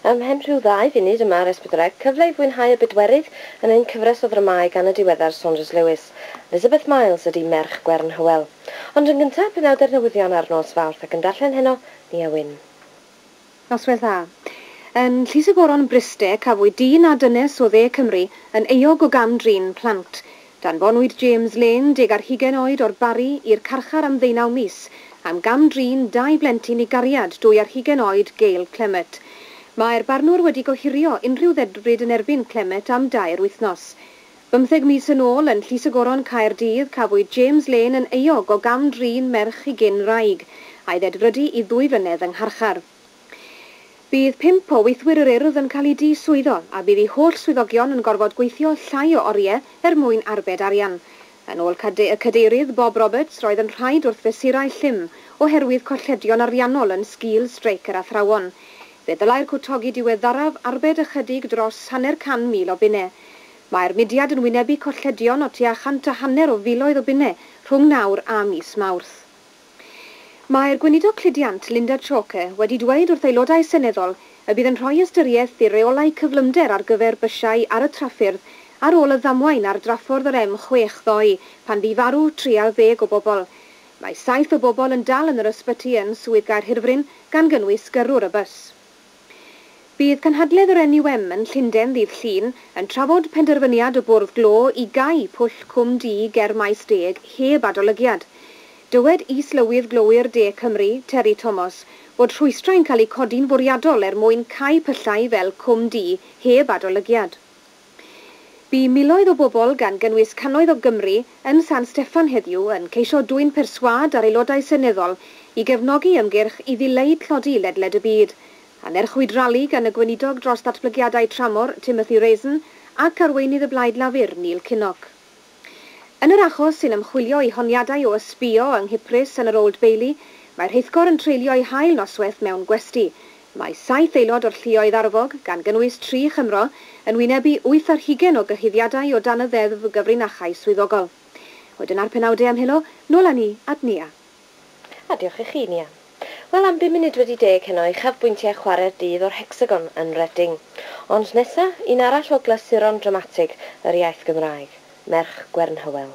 Ymhen rhyw ddau funud y mae'r Esbydwreg, cyfle i fwynhau y bedwerydd yn ein cyfres o ddramâu gan y diweddar Saunders Lewis. Elizabeth Miles ydi Merch Gwern Hywel. Ond yn gynta', penawdau'r newyddion ar nos Fawrth ac yn darllen heno, Nia Wyn. Noswyl dda. Yn Llys y Goron, Bryste, cafwyd dyn â dynes o Dde Cymru yn euog o gam-drin plant. Danfonwyd James Lane, deg ar hugain oed, o'r Barri, i'r carchar am ddeunaw mis, am gam-drin dau blentyn i gariad dwy ar hugain oed, Gail Clemmett. Mae'r barnwr wedi gohirio unrhyw ddedfryd yn erbyn Clemmett am dair wythnos. Bymtheg mis yn ôl, yn Llys y Goron, Caerdydd, cafwyd James Lane yn euog o gam-drin merch ei gyn-wraig, a'i ddedfrydu i ddwy flynedd yng ngharchar. Bydd pump o weithwyr yr Urdd yn cael eu diswyddo a bydd eu holl swyddogion yn gorfod gweithio llai o oriau er mwyn arbed arian. Yn ôl y Cadeirydd Bob Roberts, roedd yn rhaid wrth fesurau llym oherwydd colledion ariannol yn sgil streic yr athrawon. Fe ddylai'r cwtogi diweddaraf arbed ychydig dros hanner can mil o bunnau. Mae'r mudiad yn wynebu colledion o tua chant a hanner o filoedd o bunnau rhwng nawr a mis Mawrth. Mae'r Gweinidog Cludiant, Linda Chalker, wedi dweud wrth Aelodau Seneddol y bydd yn rhoi ystyriaeth i'r reolau cyflymder ar gyfer bysiau ar y traffyrdd ar ôl y ddamwain ar draffordd yr M6 ddoe pan fu farw 30 o bobl. Mae saith o bobl yn dal yn yr ysbyty yn Swydd Gaerhirfryn, gan gynnwys gyrrwr y bws. Bydd cynhadledd yr NUM yn Llundain ddydd Llun yn trafod penderfyniad y Bwrdd Glo i gau pwll Cwm Du ger Maes Deg heb adolygiad. Dywed Is-lywydd Glowyr De Cymru, Terry Tomos, bod rhwystrau'n cael eu codi'n fwriadol er mwyn cau pyllau fel Cwm Du heb adolygiad. Bu miloedd o bobl, gan gynnwys cannoedd o Gymry, yn San Steffan heddiw yn ceisio dwyn perswâd ar aelodau seneddol i gefnogi ymgyrch i ddileu tlodi ledled y byd. Anerchwyd rali gan y Gweinidog dros Ddatblygiadau Tramor, Timothy Raisin, ac arweinydd y Blaid Lafur, Neil Kinnock. Yn yr achos sy'n ymchwilio i honiadau o ysbïo yng Nghyprus yn yr Old Bailey, mae rheithgor yn treulio ei hail noswaith mewn gwesty. Mae saith aelod o'r lluoedd arfog, gan gynnwys tri Chymro, yn wynebu wyth ar hugain o gyhuddiadau o dan y Ddeddf Gyfrinachau Swyddogol. Wedyn a'r penawdau am helo, nôl â ni at Nia. A diolch i chi, Nia. Wel, am bum munud wedi deg heno, uchafbwyntiau chwarae'r dydd o'r Hecsagon yn Reading. Ond nesa, un arall o glasuron dramatig yr iaith Gymraeg, Merch Gwern Hywel.